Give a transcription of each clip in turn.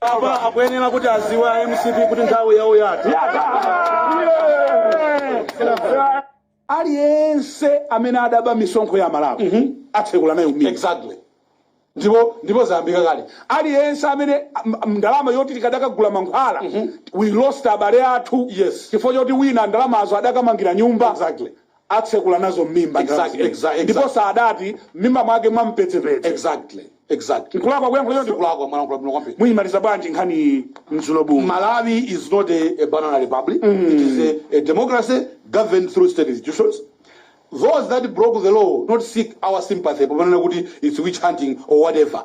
apa akuyenera kuti adziwe a MCP kuti nthawi yawo yatha aliyense amene adaba misonkho ya Amalawi atsekula nayo m'mimba exactly ndipo ndipo zayambika kale aliyense amene am- am- ndalama yoti tikadakagula mankhwala we lost abale athu Yes. chifukwa choti wina ndalamazo adakamangira nyumba Exactly. atsekula nazo m'mimba ndalama Exactly, zimenezi. exactly, ndipo exactly. sadati m'mimba mwake mwampetsepetse exactly exactly nkulakwa kuyankhula choncho sikulakwa mwalankhula bwino kwambiri muyimaliza bwanji nkhani iyi Mzulobumu Malawi is not a, a banana republic. It is a, a democracy governed through state institutions. Those that broke the law not seek our sympathy, proponent kuti it's witch hunting or whatever.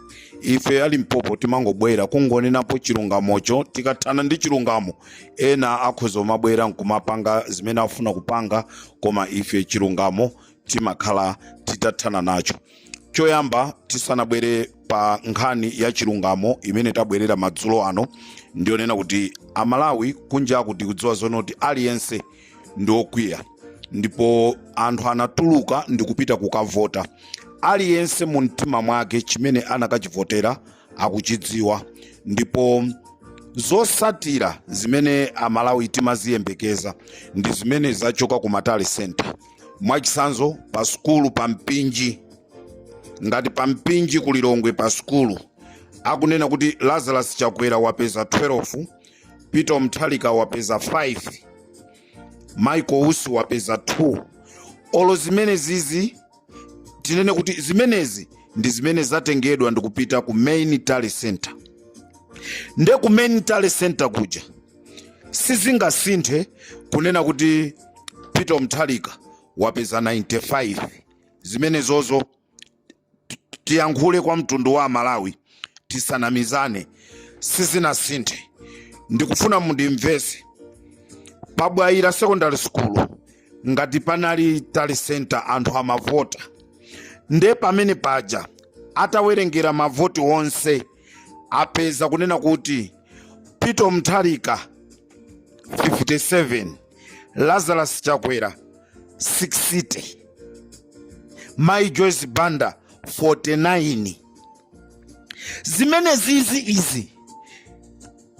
ife a Limpopo timangobwera kungonenapo chilungamocho tikathana ndi chilungamo ena akhoza kumabwera nkumapanga zimene afuna kupanga koma ife chilungamo timakhala titathana nacho choyamba tisanabwere pa nkhani ya chilungamo imene tabwerera madzulo ano ndi yonena kuti amalawi kunjaku tikudziwa zonoti aliyense ndi okwiya ndipo anthu anatuluka ndi kupita kukavota aliyense mu mtima mwake chimene anakachivotera akuchidziwa ndipo zotsatira zimene amalawi timaziyembekeza ndi zimene zachoka ku ma tally center mwachisanzo pa sukulu pa mpinji ngati pa mpinji ku lilongwe pa sukulu akunena kuti lazarus chakwera wapeza 12 Peter Mutharika wapeza 5 Michael Usi wapeza 2 olo zimenezizi tinene kuti zimenezi ndi zimene zatengedwa ndikupita ku main tally center nde ku main tally center kuja sizingasinthe kunena kuti Peter Mutharika wapeza 95 zimenezozo tiyankhule kwa mtundu wa amalawi tisanamizane sizinasinthe ndikufuna mundimvese pa Bwaila secondary school ngati panali tally center anthu amavota nde pamene paja atawerengera mavoti onse apeza kunena kuti Peter Mutharika 57 lazarus chakwera 60 mai joyce banda 49 zimenezizi izi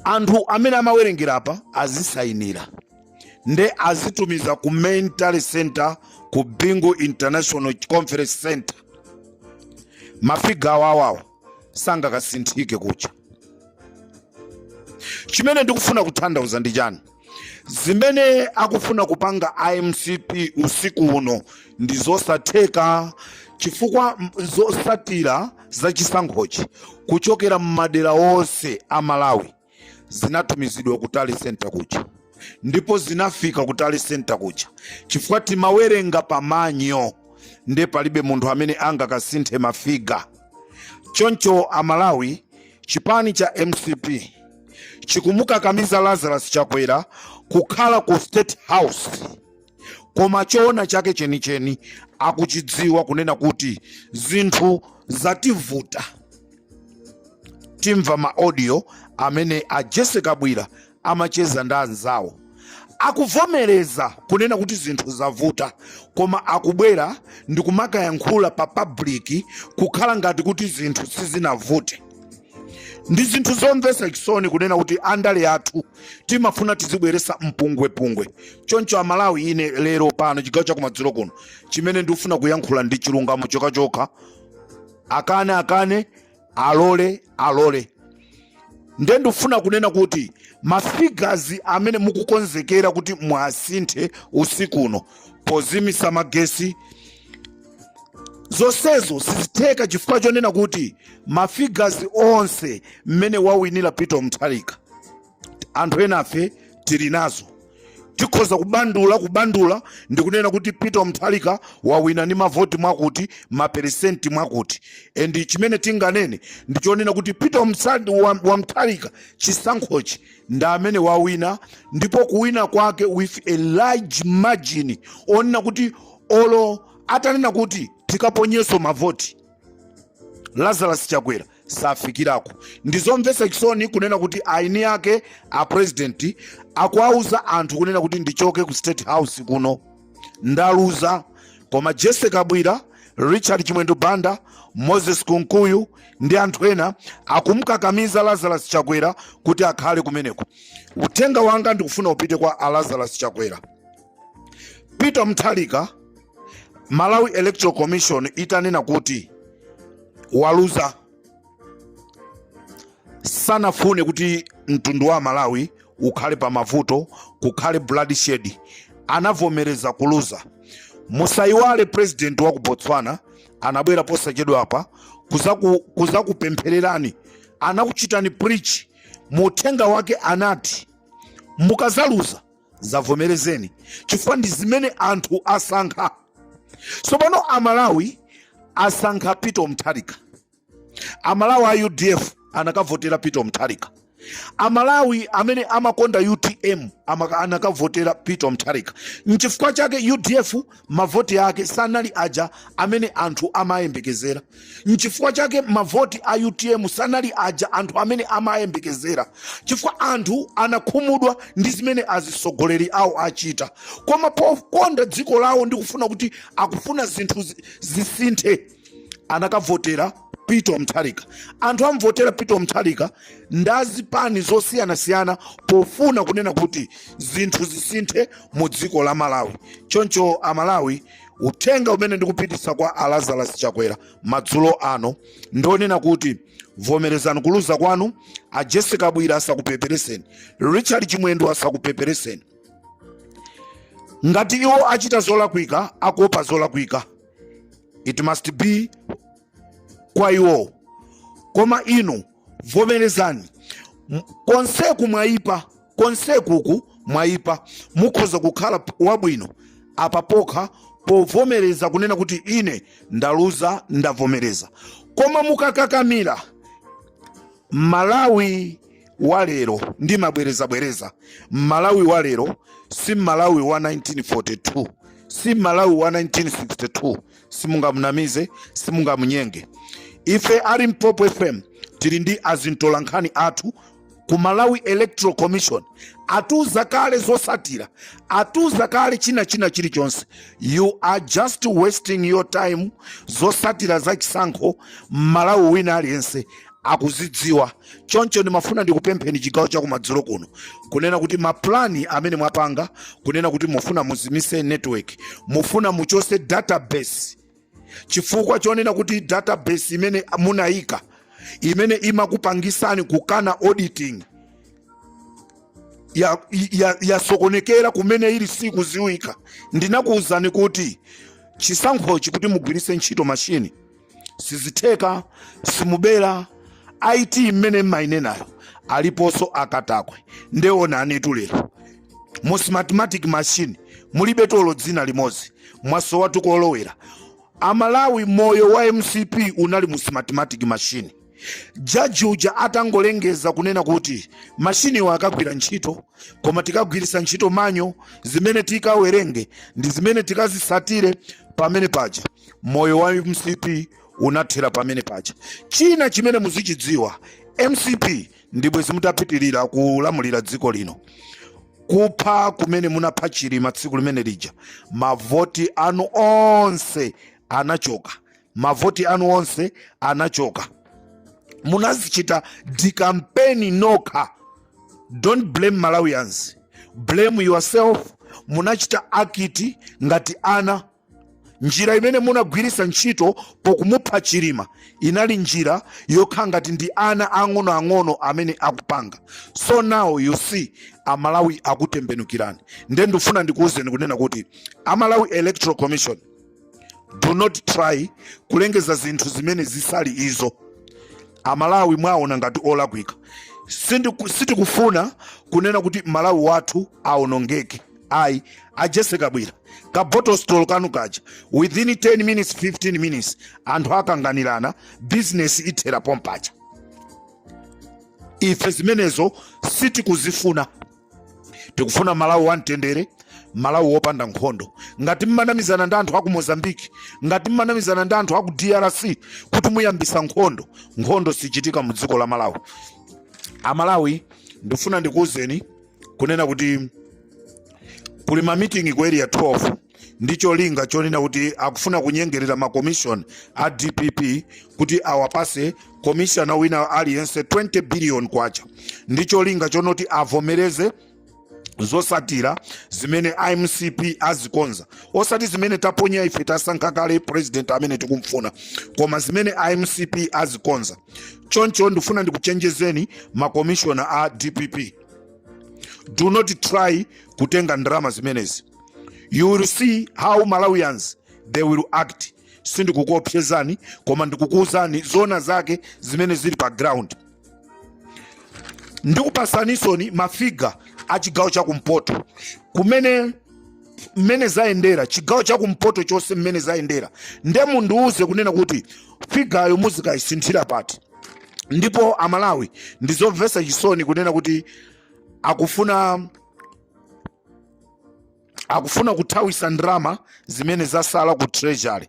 anthu amene amawerengera apa azisayinira nde azitumiza ku main tally center ku bingu international conference center mafiga awawo sangakasinthike kucha chimene ndikufuna kutanthauza ndi chani zimene akufuna kupanga a mcp usiku uno ndi zosatheka chifukwa zosatira za chisankhochi kuchokera m'madera onse a malawi zinatumizidwa ku tally center kuja ndipo zinafika ku tally center kuja chifukwa timawerenga pamanyo nde palibe munthu amene angakasinthe mafiga choncho amalawi chipani cha mcp chikumukakamiza lazarus chakwera kukhala ku state house koma choona chake chenicheni akuchidziwa kunena kuti zinthu zativuta tamva maaudio amene a jesse kabwila amacheza ndi anzawo akuvomereza kunena kuti zinthu zavuta koma akubwera ndi kumakayankhula pa public kukhala ngati kuti zinthu sizinavute ndi zinthu zomvetsa chisoni kunena kuti andale athu timafuna tizibweresa mpungwepungwe choncho amalawi ine lero pano chigawo chakumadzulo kuno chimene ndikufuna kuyankhula ndi chilungamo chokhachokha akane akane alole alole nde ndikufuna kunena kuti mafigazi amene mukukonzekera kuti mwasinthe usiku uno pozimisa magesi zonsezo sizitheka chifukwa chonena kuti mafigazi onse mmene wawinira peter mutharika anthu enafe tili nazo tikhoza kubandula kubandula ndi kunena kuti peter wa mutharika wawina ni mavoti mwakuti maperesenti mwakuti and chimene tinganene ndi chonena kuti peter wa mutharika chisankhochi ndi amene wawina ndipo kuwina kwake with a large margin onena kuti olo atanena kuti tikaponyeso mavoti lazarus chakwera safikirako ndizomvesa chisoni kunena kuti aini yake a president akuwauza anthu kunena kuti ndichoke ku state house kuno ndaluza koma jesse kabwila richard chimwendo banda moses kunkuyu ndi anthu ena akumkakamiza lazarus chakwera kuti akhale kumeneko uthenga wanga ndikufuna upite kwa a lazarus chakwera peter mutharika malawi electoral commission itanena kuti waluza sanafune kuti mtundu wa malawi ukhale pa mavuto kukhale bloodshed anavomereza kuluza musayiwale president wa ku botswana anabwera posachedwa apa kuzaku- kuzakupemphererani anakuchitani preach mu uthenga wake anati mukazaluza zivomerezeni chifukwa ndi zimene anthu asankha sopano amalawi asankha peter mutharika amalawi a udf anakavotera peter mutharika amalawi amene amakonda utm amaka- anakavotera peter mutharika nchifukwa chake udf mavoti ake sanali aja amene anthu amayembekezera nchifukwa chake mavoti a utm sanali aja anthu amene amayembekezera chifukwa anthu anakhumudwa ndi zimene azisogoleri awo achita koma pokonda dziko lawo ndikufuna kuti akufuna zinthu zisinthe anakavotera Peter Mutharika. Anthu amvotera Peter Mutharika ndi azipani zosiyanasiyana pofuna kunena kuti zinthu zisinthe mu dziko la Malawi. Choncho Amalawi, uthenga umene ndikupititsa kwa a Lazarus Chakwera madzulo ano ndi onena kuti vomerezani kuluza kwanu, a Jessie Kabwila asakupepereseni, Richard Chimwendo asakupepereseni. Ngati iwo achita zolakwika, akuopa zolakwika. it must be kwa iwowo koma inu vomerezani M- konseku mwayipa konsekuku mwayipa mukhoza kukhala p- wabwino apa pokha povomereza kunena kuti ine ndaluza ndavomereza koma mukakakamira malawi wa lero ndimabwereza bwereza mmalawi wa lero si mmalawi wa 1942 si mmalawi wa 1962 simungamunamize simungamunyenge ife a limpopo fm tili ndi azintolankhani athu ku malawi electoral commission atuza kale zosatira atuza kale china china chilichonse you are just wasting your time zosatira za chisankho mmalawi wina aliyense akuzidziwa choncho ndimafuna ndikupempheni chigawo cha kumadzulo kuno kunena kuti mapulani amene mwapanga kunena kuti mufuna muzimise network mufuna muchose database chifukwa chonena kuti database imene munayika imene imakupangisani kukana auditing yasokonekera ya, ya kumene ili sikuziwika ndinakuwuzani kuti chisankhochi kuti mugwirise ntchito mashini sizitheka simubera it imene mmayinenayo aliponso akatakwe nde onani tu lero mu smartmatic machine mulibe olo dzina limodzi mwasowa tu kolowera amalawi moyo wa mcp unali mu smartmatic machine jaji uja atangolengeza kunena kuti mashiniwo akagwira ntchito koma tikagwirisa ntchito manual zimene tikawerenge ndi zimene tikazisatire pamene paja moyo wa mcp unathera pamene paja china chimene muzichidziwa mcp ndibwe zi mutapitirira kulamulira dziko lino kupha kumene munapha chilima tsiku limene lija mavoti anu onse anachoka mavoti anu onse anachoka munazichita dikampeni nokha don't blame malawians blame yourself munachita act ngati ana njira imene munagwiritsa ntchito pokumupha chilima inali njira yokhala ngati ndi ana ang'onoang'ono amene akupanga so now you see amalawi akutembenukirani nde ndifuna ndikuwuzeni kunena kuti a Malawi electoral commission do not try kulengeza zinthu zimene zisali izo amalawi mwaona ngati olakwika Sindiku- sitikufuna kunena kuti malawi wathu aonongeke ayi a Jesse Kabwira ka bottle store kanu kaja within 10 minutes 15 minutes anthu akanganirana business ithera pompaja ife zimenezo sitikuzifuna tikufuna malawi wamtendere malawi wopanda nkhondo ngati mmanamizana ndi anthu aku mozambique ngati mmanamizana ndi anthu aku drc kuti muyambisa nkhondo nkhondo sichitika mu dziko la malawi amalawi ndifuna ndikuwuzeni kunena kuti kuli mamitingi ku area 12 ndi cholinga chonena kuti akufuna kunyengerera makomishona a dpp kuti awapase komishona wina aliyense 20 billion kwacha ndi cholinga chonoti avomereze zosatira zimene a mcp azikonza osati zimene taponya ife tasankha kale president amene tikumfuna koma zimene a mcp azikonza choncho ndifuna ndikuchenjezeni makomishona a dpp do not try kutenga ndrama zimenezi you will see how malawians they will act sindikukuopsezani koma ndikukuuzani zona zake zimene zili pa ground ndikupasaninso mafiga a chigawo cha kumpoto kumene mmene zayendera chigawo chakumpoto chonse mmene zayendera nde mundiuze kunena kuti figayo muzikayisinthira pati ndipo amalawi ndizomvesa chisoni kunena kuti akufuna akufuna kuthawisa ndrama zimene zasala ku treasury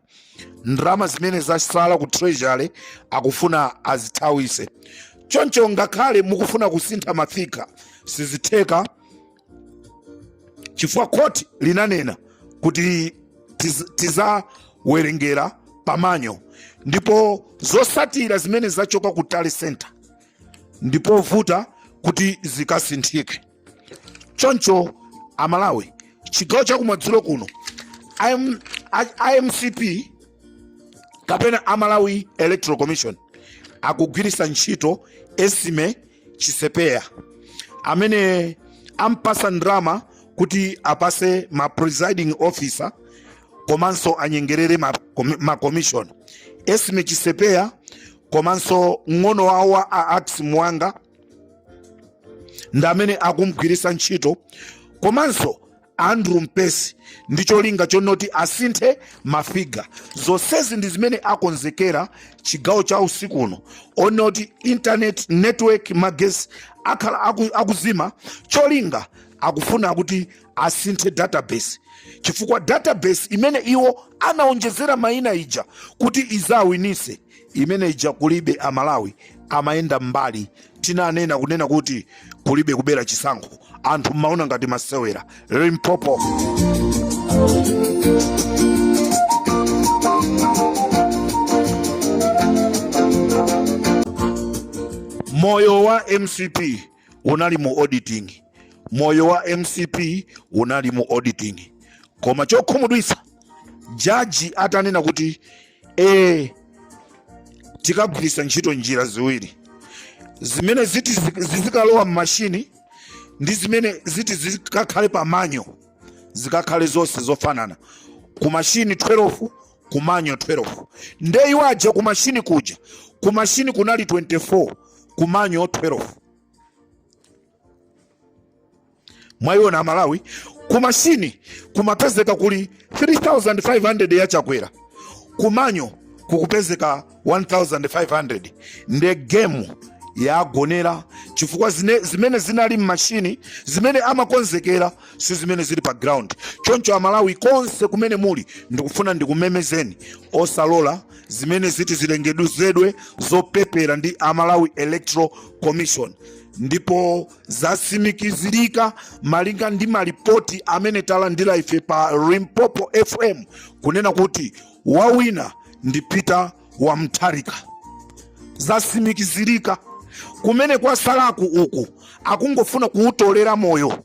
ndrama zimene zasala ku treasury akufuna azithawise choncho ngakhale mukufuna kusintha mafiga sizitheka chifukwa khoti linanena kuti tizawerengera pamanyo ndipo zosatira zimene zachoka ku tally center ndipovuta kuti zikasinthike choncho amalawi chigawo chakumadzulo kuno a MCP kapena a Malawi electoral commission akugwiritsa ntchito esime chisepeya amene ampasa ndrama kuti apase ma presiding officer komanso anyengerere ma commission esime chisepeya komanso mng'ono wawo a ax muwanga ndi amene akumgwiritsa ntchito komanso Andrew Mpesi ndi cholinga chonoti asinthe mafiga. Zonsezi ndi zimene akonzekera chigawo cha usiku uno onoti internet network magesi akhala akuzima cholinga akufuna kuti asinthe database chifukwa database imene iwo anaonjezera mayina ija kuti izawinise imene ija kulibe amalawi amayenda mbali tinanena kunena kuti kulibe kubera chisankho anthu mmaona ngati masewera limpopo moyo wa mcp unali mu auditing moyo wa mcp unali mu auditing koma chokhumudwitsa jaji atanena kuti tikagwiritsa ntchito njira ziwiri zimene ziti zizikalowa mmashini ndi zimene ziti zikakhale pa manyo zikakhale zonse zofanana ku mashini 12 ku manyo 12 nde iwo aja ku mashini kuja ku mashini kunali 24 kumanyo 12 mwaiona amalawi kumashini kumapezeka kuli 3500 ya chakwera kumanyo kukupezeka 1500 nde gemu yagonera chifukwa zimene zinali mmashini zimene amakonzekera si zimene zili pa ground choncho amalawi konse kumene muli ndikufuna ndikumemezeni osalola zimene ziti zilengeduzedwe zopepera ndi a Malawi electoral commission ndipo zasimikizirika malinga ndi malipoti amene talandira ife pa limpopo fm kunena kuti wawina ndi peter wamtharika zasimikizirika kumene kwasalaku uku akungofuna kuwutolera moyo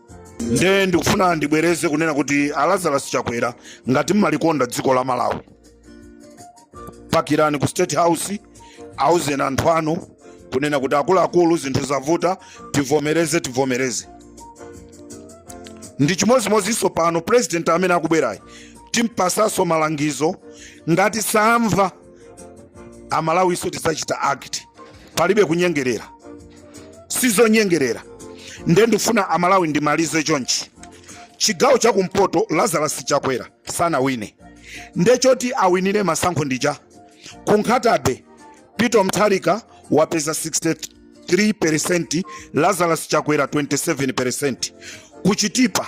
nde ndikufuna ndibwereze kunena kuti a lazarus chakwera ngati mmalikonda dziko la malawi pakirani ku state house auzeni anthu anu kunena kuti akuluakulu zinthu zavuta tivomereze tivomereze ndi chimodzimodzinso pano president amene akubwerayi timpasanso malangizo ngati samva amalawiso tidzachita act palibe kunyengerera sizonyengerera nde ndifuna amalawi ndimalize chonchi chigawo chakumpoto lazarus chakwera sanawine nde choti awinire masankho ndija ku nkhata bay peter mutharika wapeza 63 peresenti lazarus chakwera 27 peresenti ku chitipa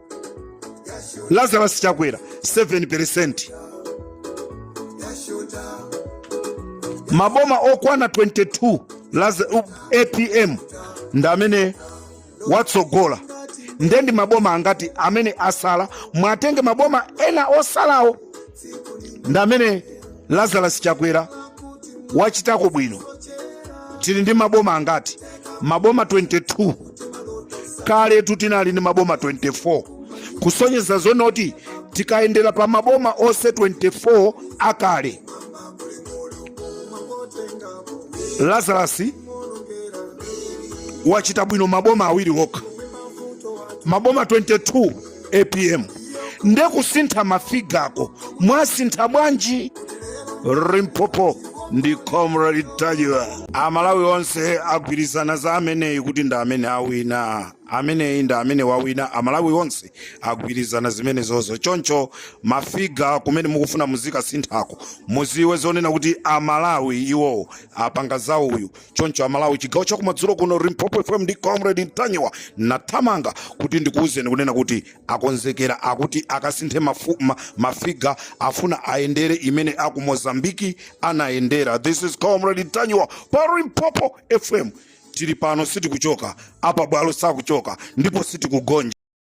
lazarus chakwera 7 peresenti maboma okwana 22 apm ndi amene watsogola nde ndi maboma angati amene asala mwatenge maboma ena osalawo ndi amene lazarus chakwera wachitako bwino tili ndi maboma angati maboma 22 kale tu tinali ndi maboma 24 kusonyeza zonoti tikayendera pa maboma onse 24 akale lazarus wachita bwino maboma awiri okha maboma 22 apm nde kusintha mafigako mwasintha bwanji limpopo ndi comrade mtanyiwa amalawi onse agwirizana za ameneyi kuti ndi amene awina ameneyi ndi amene wawina amalawi onse agwirizana zimenezozo choncho mafiga kumene mukufuna muzikasinthako muziwe zonena kuti amalawi iwowo apanga za uyu choncho amalawi chigawo chakumadzulo kuno limpopo fm ndi comrade mtanyiwa nathamanga kuti ndikuwuzeni kunena kuti akonzekera akuti akasinthe mafiga afuna ayendere imene aku mozambiki anayendera this is comrade mtanyiwa pa limpopo fm tili pano sitikuchoka apa bwalo sakuchoka ndipo sitikugonja